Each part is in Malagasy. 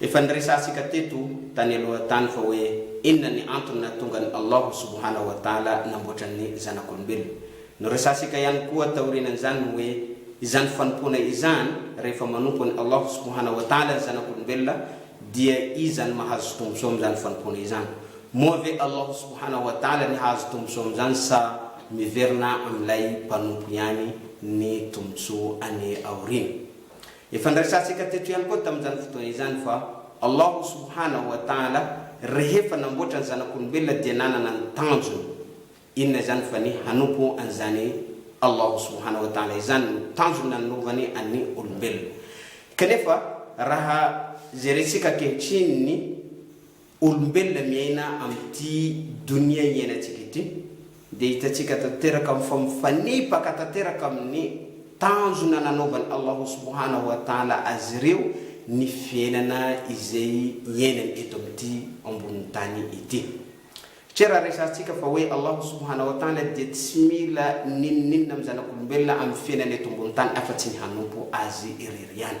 Efa niresahantsika teto tany aloha tany fa hoe inona ny antony nahatonga an'i Allahu subhanahu wa ta'ala namboatra ny zanak'olombelona. Noresahantsika ihany koa taorianan'izany ny hoe izany fanompoana izany, rehefa manompo an'i Allahu subhanahu wa ta'ala ny zanak'olombelona dia iza no mahazo tombontsoa amin'izany fanompoana izany? Moa ve Allahu subhanahu wa ta'ala ny hahazo tombontsoa amin'izany sa miverina amin'ilay mpanompo ihany ny tombontsoa any aoriana? Efa niresahantsika teto ihany koa tamin'izany fotoana izany fa Allahu subhanahu wa ta'ala rehefa namboatra ny zanak'olombelona dia nanana ny tanjony. Inona izany fa ny hanompo an'izany Allahu subhanahu wa ta'ala izany no tanjony nanovany an'ny olombelona. Kanefa raha jerentsika ankehitriny ny olombelona miaina amin'ity donia iainantsika ity dia hitantsika tanteraka fa mifanipaka tanteraka amin'ny tanjona nanaovan'i Allahu subhanahu wa ta'ala azy ireo ny fiainana izay iainany eto amin'ity ambonin'ny tany ity. Satria raha resahantsika fa hoe Allahu subhanahu wa ta'ala dia tsy mila n'inon'inona amin'ny zanak'olombelona amin'ny fiainana eto ambonin'ny tany afa-tsy ny hanompo Azy irery ihany.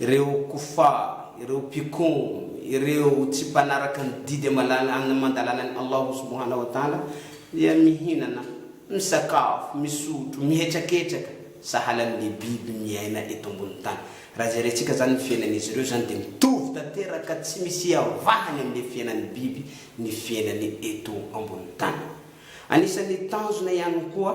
Ireo kofar, ireo mpikomy, ireo tsy mpanaraka ny didy amalana aman-dalanan'i Allahu subhanahu wa ta'ala dia mihinana, misakafo, misotro, mihetraketraka sahala amin'ny biby miaina eto ambonin'ny tany. Raha jerentsika izany ny fiainan'izy ireo izany dia mitovy tanteraka tsy misy iavahany amin'ny fiainan'ny biby ny fiainany eto ambonin'ny tany. Anisan'ny tanjona ihany koa.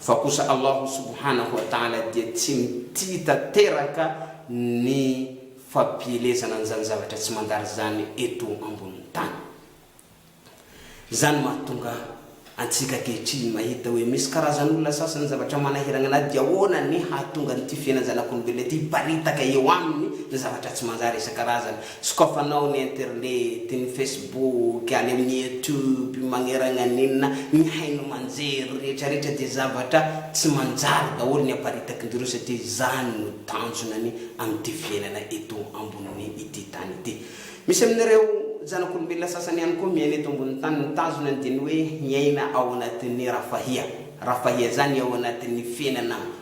Fa kosa Allah subhanahu wa ta'ala dia tsy mitia tanteraka ny fampielezana an'izany zavatra tsy mandary izany eto ambonin'ny tany. Izany mahatonga antsika ankehitriny mahita hoe misy karazan'olona sasany zavatra manahiragna anahy dia ahoana ny hahatonga an'ity fiainan-janak'olombelona ity hiparitaka eo aminy ny zavatra tsy manjary isan-karazany. Sokafanao ny internet, ny facebook, any amin'ny youtube magneragna an'inona, ny haino aman-jery rehetrarehetra dia zavatra tsy manjary daholo ny aparitakin-dry satria izany no tanjonany amin'ity fiainana eto ambonin'ny ity tany ity. Misy amin'ireo zanak'olombelona sasany ihany koa miaina eto ambonin'ny tany ny tanjonany dia ny hoe miaina ao anatin'ny rafahia. Rafahia izany ao anatin'ny fiainana.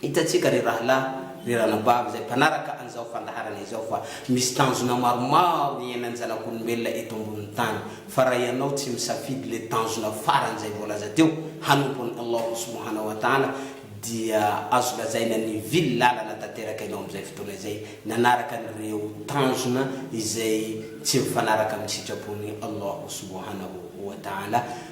Hitantsika ry rahalahy, ry ranabavy izay mpanaraka an'izao fandaharana izao fa misy tanjona maromaro iainan'ny zanak'olombelona eto ambonin'ny tany, fa raha ianao tsy misafidy ilay tanjona farany izay voalaza teo, hanompo an'i Allahu subhana wa ta'ala, dia azo lazaina nivily lalana tanteraka ianao amin'izay fotoana izay, nanaraka an'ireo tanjona izay tsy mifanaraka amin'ny sitrapon'i Allahu subhanahu wa ta'ala.